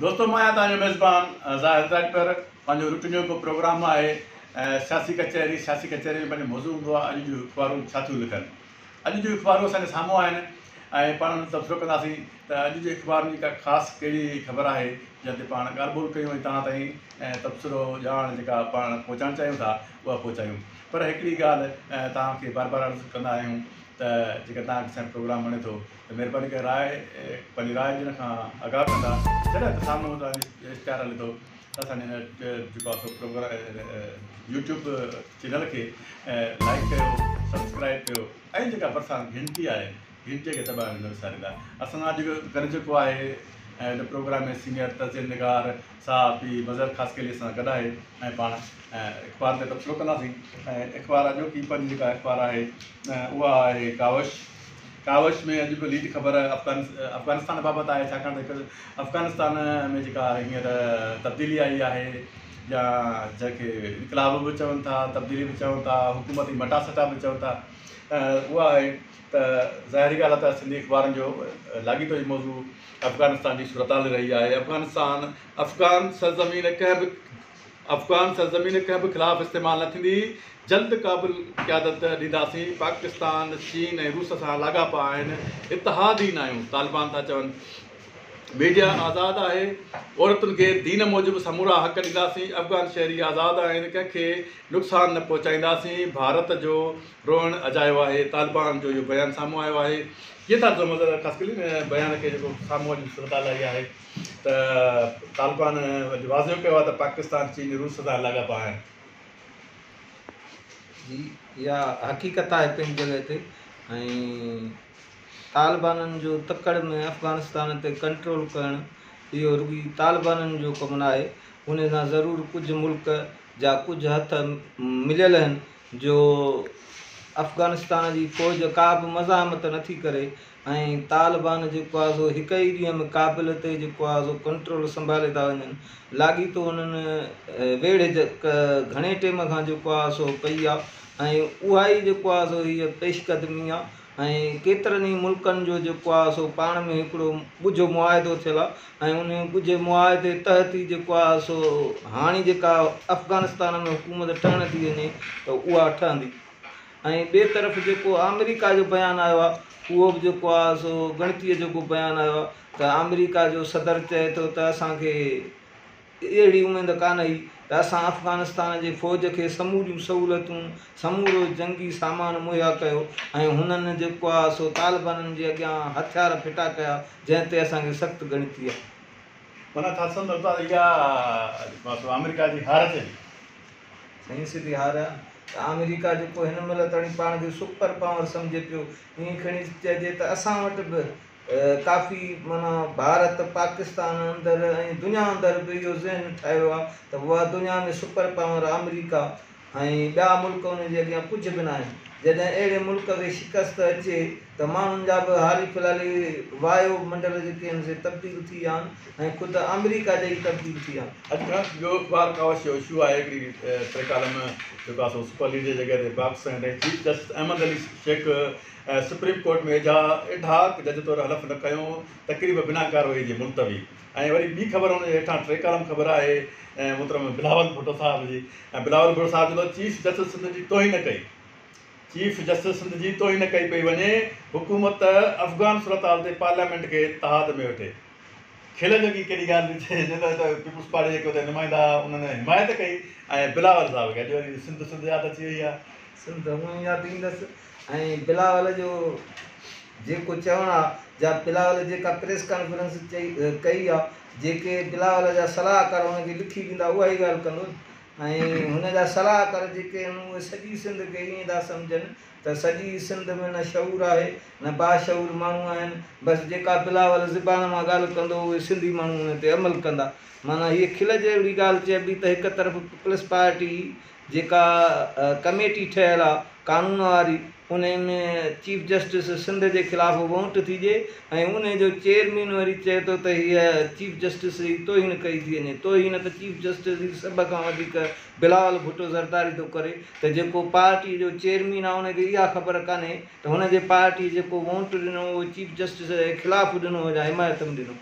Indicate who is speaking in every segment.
Speaker 1: دوستو مان آهيان توهان جو ميزبان ظاهر ڊاڪٽر پنهنجو روٽين جو هڪ پروگرام آهي سياسي ڪچهري سياسي ڪچهري ۾ پنهنجو موضوع هوندو آهي اڄ جون اخبارون ڇا ٿيون لکن اڄ جون اخبارون اسان جي سامهون آهن ۽ پاڻ ان تبصرو ڪنداسين ته اڄ جي اخبارن جي ڪا خاص ڪهڙي خبر آهي جنهن تي پاڻ ڳالهه ٻولهه ڪيون ۽ توهان تائين تبصرو ڄاڻ جيڪا پاڻ پهچائڻ چاهيون ٿا اها پهچايون پر هڪڙي ڳالهه توهان کي بار بار عرض ڪندا آهيون ته جيڪڏهن توهان کي اسان جو پروگرام وڻي ٿو مھرباني ڪري راء پنھنجي راء ڏيڻ کان آگاھه ڪندا جڏھن ته سامھون توھان جي اشتھار ھلي ٿو ته اسان جي ھن جيڪو آھي سو پروگرام يوٽيوب چينل کي لائيڪ ڪيو سبسڪرائيب ڪيو ۽ جيڪا ڀرسان گھنٽي آھي گھنٽي کي دٻائڻ نه وساريندا اسان سان اڄ گڏ جيڪو آھي ھن پروگرام ۾ سينيئر تجزئي نگار صحافي مظھر خاصخيلي اسان سان گڏ آھي ۽ پاڻ اخبار تي تبصرو ڪنداسين ۽ اخبار اڄوڪي پنھنجي جيڪا اخبار آھي اھا آھي ڪاوش ڪاوش ۾ اڄ به ليڊ خبر افغانستان بابت آهي ڇاڪاڻ ته افغانستان ۾ جيڪا هينئر تبديلي آئي آهي يا جنهن کي انقلاب به چون ٿا تبديلي به چون ٿا حڪومتي مٽا سٽا به چون ٿا اها آهي ته ظاهري ڳالهه آهي ته سنڌي اخبارن جو لاڳيتو جي موضوع افغانستان جي صورتحال رهي آهي افغانستان افغان سرزمين ڪنهن به افغان سرزمين ڪنهن به خلاف استعمال نه ٿيندي، جلد ڪابل قيادت ڏينداسين، پاڪستان، چين ۽ روس سان لاڳاپا آهن، اتحادين آهيون، طالبان ٿا چون. ميڊيا آزاد آهي، عورتن کي دين موجب سمورا حق ڏينداسين، افغان شهري آزاد آهن، ڪنهن کي نقصان نه پهچائينداسين، ڀارت جو روئڻ اجايو آهي، طالبان جو اهو بيان سامهون آيو آهي. جي ٿا ڊزون مظهر خاص ڪلين بيان کي جيڪو سامهون اچڻ جي صورتحال آئي آهي. ته طالبان اڄ واضح ڪيو آهي ته پاڪستان، چين، روس سان لاڳاپا آهن.
Speaker 2: جي اها حقيقت آهي پنهنجي جڳهه تي ۽ طالبانن جو تڪڙ ۾ افغانستان تي ڪنٽرول ڪرڻ اهو رڳي طالبانن جو ڪم ناهي ان سان ضرور ڪجهه ملڪ جا ڪجهه هٿ مليل آهن جو افغانستان جي فوج ڪا به مزاحمت نٿي ڪري ۽ طالبان جيڪو آهي سو هڪ ئي ڏينهن ۾ ڪابل تي جيڪو آهي سو ڪنٽرول سنڀالي ٿا وڃن لاڳيتو انهن ويڙهه گهڻي ٽيم کان جيڪو آهي سو پئي آهي ۽ اها ئي جيڪو آهي سو هيء پيش قدمي آهي ۽ ڪيترن ئي ملڪن جو جيڪو آهي سو پاڻ ۾ هڪڙو ڳجهو معاهدو ٿيل آهي ۽ انهي ڳجهي معاهدي تحت ئي جيڪو آهي سو هاڻي جيڪا افغانستان ۾ حڪومت ٺهڻ ٿي وڃي ته اها ٺهندي ۽ ٻئي طرف جيڪو آمريڪا جو بيان آيو آهي اهو به جيڪو آهي سو ڳڻتيء جوڳو بيان آيو آهي ته آمريڪا جو صدر چئي ٿو ته اسان کي اهڙي اميد ڪانه هئي ته اسان افغانستان جي فوج کي سموريون سهولتون سمورو جنگي سامان مهيا ڪيو ۽ هنن جيڪو آهي سو طالبانن جي اڳيان هٿيار ڦٽا ڪيا جنهن تي اسان کي سخت ڳڻتي آهي. منا ٿاٽسن اتان اها
Speaker 1: آمريڪا جي هار تي سائين
Speaker 2: سڌي هار آهي ته آمريڪا جيڪو هن مهل تڻي پاڻ کي سپر پاور سمجهي پيو ائين کڻي چئجي ته اسان وٽ به ڪافي معنيٰ ڀارت پاڪستان اندر ۽ دنيا اندر به اهو ذهن ٺاهيو آهي ته اها دنيا ۾ سپر پاور آمريڪا ۽ ٻيا ملڪ ان جي اڳيان ڪجهه به ناهن جڏهن اهڙي ملڪ کي شڪست اچي ته ماڻهن جا به حالي فلحالي وايو منڊل جيڪي آهن سي تبديل ٿي ويا آهن ۽ خود آمريڪا جا ئي تبديل ٿي ويا آهن. اڄ کان ٻيو اخبار
Speaker 1: ڪاوش جو اشو آهي هڪڙي ٽي ڪالم جيڪو آهي سو سپر ليڊ جي جڳهه تي باڪس ۽ ڏئي chief justice Ahmed Ali Shaikh Supreme Court ۾ ايڌا ايڌاڪ جج طور حلف نه کنيو تقريب بنا ڪارروائي جي ملتوي ۽ وري ٻي خبر ان جي هيٺان ٽي ڪالم خبر آهي محترم بلاول ڀٽو صاحب جي ۽ بلاول ڀٽو صاحب چوندو چيف جسٽس سنڌ جي توهين ڪئي چيف جسٽس سنڌ جي توهين ڪئي پئي وڃي، حڪومت ته افغان صورتحال تي پارليامينٽ کي تحاد ۾ وٺي. کل جوڳي ڪهڙي ڳالهه ٿي چئي جو ته پيپلز پارٽي جيڪي اتي نمائندا هئا انهن حمايت ڪئي ۽ بلاول صاحب کي اڄ وري سنڌ سنڌ ياد اچي وئي آهي. سنڌ هونئن ياد
Speaker 2: ايندس ۽ بلاول جو جيڪو چوڻ آهي جا بلاول جيڪا پريس ڪانفرنس ڪئي آهي جيڪي بلاول جا صلاحڪار ان کي لکي ڏيندا اها ئي ڳالهه ڪندو ۽ هن جا صلاحڪار جيڪي آهن اهي سڄي سنڌ کي ائين ٿا سمجهن ته سڄي سنڌ ۾ نه شعور آهي نه باشعور ماڻهو آهن بس جيڪا بلاول زبان مان ڳالهه ڪندو اهي سنڌي ماڻهو ان تي عمل ڪندا معنيٰ هيء کل جهڙي ڳالهه چئبي ته هڪ طرف پيپلز پارٽي جيڪا ڪميٽي ٺهيل آهي قانون واري انهيء ۾ چيف جسٽس سنڌ جي خلاف وونٽ ٿي ڏئي ۽ انهيء جو چيئرمين وري چئي ٿو ته هيء چيف جسٽس جي توهين ڪئي ٿي وڃي. توهين ته چيف جسٽس جي سڀ کان وڌيڪ بلاول ڀٽو زرداري ٿو ڪري ته جيڪو پارٽيء جو چيئرمين آهي ان کي اها خبر ڪانهي ته هن جي پارٽيء جيڪو وونٽ ڏنو اهو چيف جسٽس جي خلاف ڏنو هو يا حمايت ۾ ڏنو.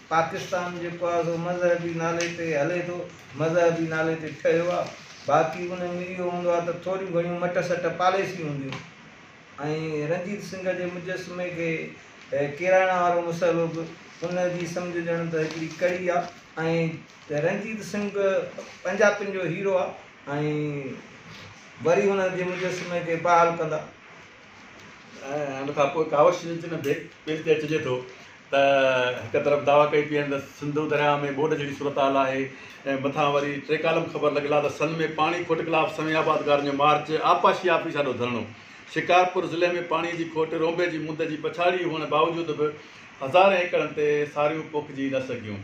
Speaker 2: پاڪستان جيڪو آهي سو مذهبي نالي تي هلي ٿو، مذهبي نالي تي ٺهيو آهي، باقي ان ۾ اهو هوندو آهي ته ٿوريون گهڻيون مٽ سٽ پاليسيون هونديون ۽ رنجيت سنگهه جي مجسمي کي ڪيرائڻ وارو مسئلو به ان جي سمجهه ڄڻ ته هڪڙي ڪڙي آهي ۽ رنجيت سنگهه پنجاپين جو هيرو آهي ۽ وري ان جي مجسمي کي بحال ڪندا.
Speaker 1: ۽ ان کان پوء ڪاوش جي جنھن بيت پيل تي چجي ٿو ته، ھڪ طرف دعويٰ ڪئي پيئن ته سنڌو درياء ۾ ٻوڏ جھڙي صورتحال آھي ۽ مٿان وري ٽي ڪالم خبر لڳلا ته سن ۾ پاڻي کوٽ خلاف سوين آبادگارن جو مارچ، آبپاشي آفيس آڏو ڌرڻو، شڪارپور ضلعي ۾ پاڻي جي کوٽ رونبي جي مند جي پڇاڙي ھئڻ باوجود به ھزارين ايڪڙن تي ساريون پوکجي نه سگھيون.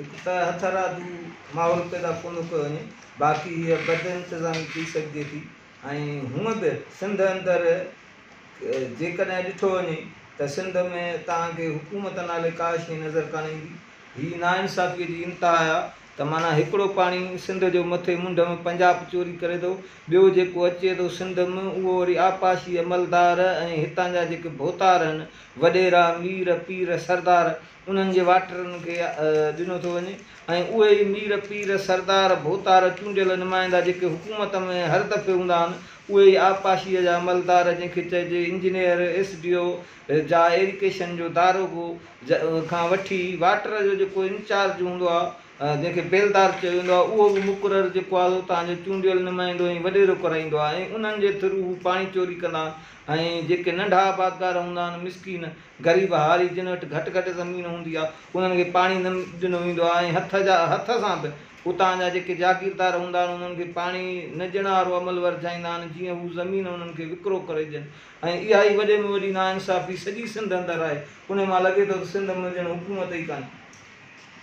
Speaker 1: هڪ ته
Speaker 2: هٿرادو ماحول پيدا ڪونه ڪيو وڃي باقي هيء بدانتظامي ٿي سگهجي ٿي ۽ هونء به سنڌ اندر جيڪڏهن ڏٺو وڃي ته سنڌ ۾ توهان کي حڪومت نالي ڪا شيء نظر ڪانه ايندي. هي ناانصافيء جي انتها آهي ته معنيٰ هڪڙو پاڻي سنڌ جو مٿي منڍ ۾ پنجاب چوري ڪري ٿو، ٻيو جيڪو اچي ٿو سنڌ م اهو وري آبپاشي عملدار ۽ هتان جا جيڪي ڀوتار هن، وڏيرا، مير، پير، سردار، انهن جي واٽرن کي ڏنو ٿو وڃي ۽ اهي ئي مير، پير، سردار، ڀوتار، چونڊيل نمائندا جيڪي حڪومت ۾ هر دفعي هوندا آهن، اهي ئي آبپاشيء جا عملدار جنهن کي چئجي انجنيئر، ايس ڊي او، جا ايريڪيشن جو داروغو کان وٺي واٽر جو جيڪو انچارج هوندو آهي جنهن کي بيلدار چيو ويندو آهي اهو به مقرر جيڪو آهي اتان جو چونڊيل نمائندو ۽ وڏيرو ڪرائيندو آهي ۽ انهن جي ٿرو هو پاڻي چوري ڪندا آهن ۽ جيڪي ننڍا آبادگار هوندا آهن مسڪين غريب هاري جن وٽ گهٽ گهٽ زمين هوندي آ، انهن کي پاڻي نه ڏنو ويندو آ ۽ هٿ جا هٿ سان به اتان جا جيڪي جاگيردار هوندا آهن انهن کي پاڻي نه ڏيڻ وارو عمل ورجائيندا آهن جيئن هو زمين انهن کي وڪرو ڪري ڏين ۽ اها ئي وڏي ۾ وڏي ناانصافي سڄي سنڌ اندر آهي انهي مان لڳي ٿو ته سنڌ ۾ ڄڻ حڪومت ئي ڪانهي.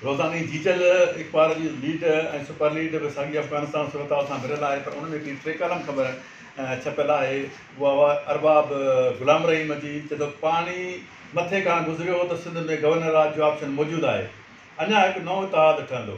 Speaker 2: روزاني
Speaker 1: جيجل اخبار جي ليڊ ۽ سپر ليڊ به ساڳي افغانستان صورتحال سان ڀريل آهي پر ان ۾ هڪڙي ٽي ڪالم خبر ڇپيل آهي اها هئا ارباب غلام رحيم جي چئي ٿو پاڻي مٿي کان گذريو هو ته سنڌ ۾ گورنر راڄ جو آپشن موجود آهي اڃا هڪ نئون اتحاد ٺهندو.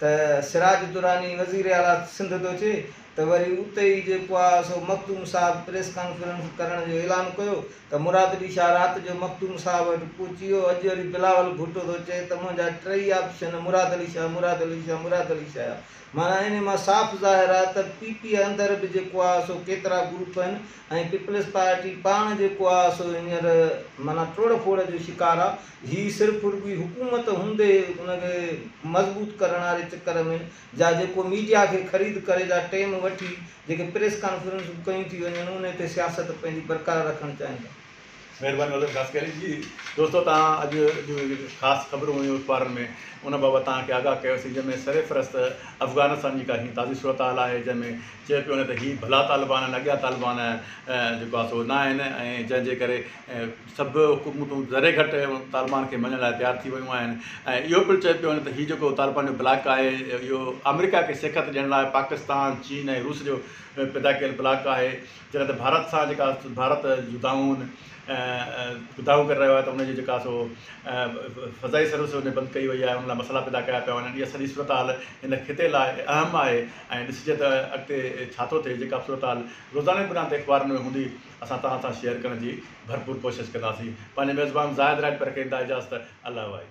Speaker 2: ته سراج الدراني وزير اعليٰ سنڌ ٿو چئي ته وري اتي ئي جيڪو آ سو مخدوم صاحب پريس ڪانفرنس ڪرڻ جو اعلان ڪيو ته مراد علي شاهه رات جو مخدوم صاحب وٽ پهچي ويو اڄ وري بلاول ڀٽو ٿو چئي ته منهنجا ٽيئي آپشن مراد علي شاهه مراد علي شاهه مراد علي شاهه معنيٰ انهي مان صاف ظاهر آ ته پي پي اندر به جيڪو آ سو ڪيترا گروپ آهن ۽ پيپلز پارٽي پاڻ جيڪو آ سو هينئر معنيٰ ٽوڙ ڦوڙ جو شڪار آ. هي صرف رڳوئي حڪومت هوندي ان کي مضبوط ڪرڻ واري چڪر ۾ جا جيڪو ميڊيا کي خريد ڪري جا ٽيم وٺي جيڪي پريس ڪانفرنسون ڪيون ٿي وڃن انهي تي سياست پنهنجي برقرار رکڻ چاهين ٿا. مهرباني
Speaker 1: مدد خاص ڪري جي دوستو توهان اڄ جون جيڪي خاص خبرون هيون اخبارن ۾ ان بابت توهان کي آگاهه ڪيو سين جنهن ۾ سر فهرست افغانستان جي ڪا هينئر تازي صورتحال آهي جنهن ۾ چيو پيو وڃي ته هي ڀلا طالبان آهن اڳيا طالبان جيڪو آهي سو نه آهن ۽ جنهن جي ڪري سڀ حڪومتون ذري گهٽ طالبان کي مڃڻ لاء تيار ٿي ويون آهن ۽ اهو پڻ چيو پيو وڃي ته هي جيڪو طالبان جو بلاڪ آهي اهو آمريڪا کي سيکت ڏيڻ لاء پاڪستان، چين ۽ روس جو پيدا ڪيل بلاڪ آهي جڏهن ته ڀارت سان جيڪا ڀارت جدائون جدائون ڪري رهيو آهي ته ان جي جيڪا سو فضائي سروس ان بند ڪئي وئي آهي ان لاء مسئلا پيدا ڪيا پيا وڃن اها سڄي صورتحال ان خطي لاء اهم آهي ۽ ڏسجي ته اڳتي ڇا ٿو ٿئي جيڪا صورتحال روزاني بنا تي اخبارن ۾ هوندي اسان توهان سان شيئر ڪرڻ جي ڀرپور ڪوشش ڪنداسين پنهنجي ميزبان زاهد راڄپر کي انتها اجازت الله وائي.